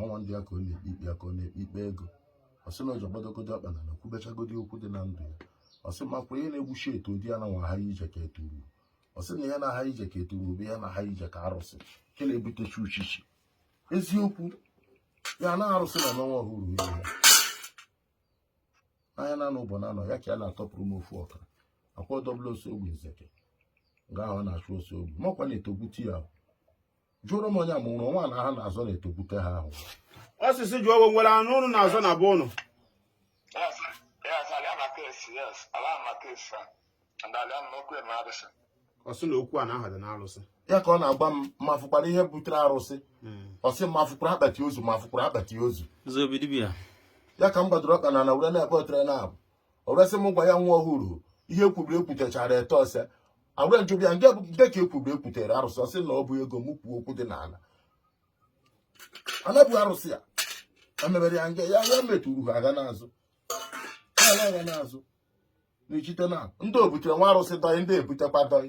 ọnwa ndụ ya ka ọ na-ekpe ikpe ya ka ọ na-ekpe ikpe ego ọ sị na ọjị gbadogodi ọkpa n'ana kwubechagodi okwu dị na ndụ ya ọ sị makwa ihe na-egbuchi etu ụdị ya na nwa ha ije ka etu ugwu ọ sị na ya na-aha ije ka etu ugwu bụ ya na-aha ije ka arụsị nke na-ebutechi uchichi eziokwu ya na arụsị na n'ọnwa ọhụrụ ihe ya anya na n'ụbọ na anọ ya ka ya na-atọpụrụ m ofu ọkara akwa ọdọbụla ose ogbe nzeke nga ahụ ọ na-achụ ose ogbe makwa na-etogbute ya jụrụ m onye mụrụ nwa na ha na-azọ na-etogbute ha ahụ ọ sị sị jụọ onye nwere anụ ụnụ na-azọ na be ụnụ ọ sị na okwu a na aha dị n'arụsị ya ka ọ na-agba m ma fụkwara ihe butere arụsị ọ sị ma fụkwara akpati ozu ma fụkwara akpati ozu ya ka m gbadoro ọkpa n'ana were na-ebe otoro naabọ o resị m gwa ya nwa ọhụrụ ihe ekwubiri ekwutechara ete ose agwa njụbụ ya nke bụ nke ka ekwubiri ekwutere arụsị ọ sị na ọ bụ ego m kwuo okwu dị n'ala ana bụ arụsị ya emebere ya nke ya ya metụrụ ha aga n'azụ ha aga aga n'azụ n'echite na ndị obutere nwa arụsị dọị ndị ebutekwa dọị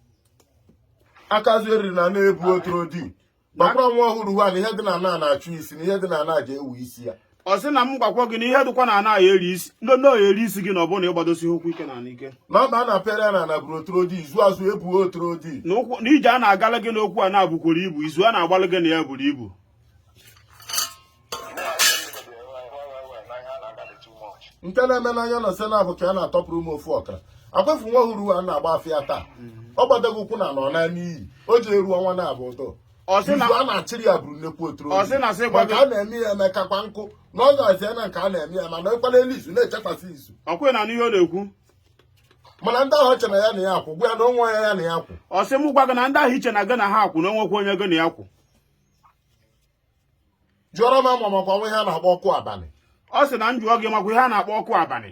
akazu eriri na na-ebu otoro di gbakwara nwa ọhụrụ ha na ihe dị n'ana na-achụ isi na ihe dị n'ana ji ewu isi ya ọ sị na m gwakwa gị na ihe dịkwa n'ana ya eri isi ndị ndị ọya eri isi gị na ọ bụrụ na ị gbadosi ụkwụ ike n'ike na ọ bụ a na-apịara ya na ana bụrụ otoro di izu azụ ebuo otoro di na ije a na-agala gị n'okwu a na-abụkwara ibu izu a na-agbalị gị na ya buru ibu nke na-eme n'anya na sena bụ ka a na-atọpụrụ m ofu ọkara akwefu nwa ọhụrụ a na-agba afa taa ọ gbadago ụkwụ na nọ na n'iyi o ji eru ọnwa na-abụ ụtọ izu a na-achịrị ya bụrụ nnekwu otoro maka a na-eme ya eme kakwa nkụ na ọ ga-azị ya na nke a na-eme ya mana ịkwala elu izu na-echekwasị izu ọkwe na n'ihe ọ na-ekwu mana ndị ahụ chere ya na ya akwụ gwa ya na onwe ya ya na ya akwụ ọ sị m gwa gị na ndị ahụ i che na gị na ha akwụ na o nwekwa onye gị na ya akwụ jụọrọ m ama makwa ihe a na-akpọ ọkụ abalị ọ sị na m jụọ gị makwa ihe a na-akpọ ọkụ abalị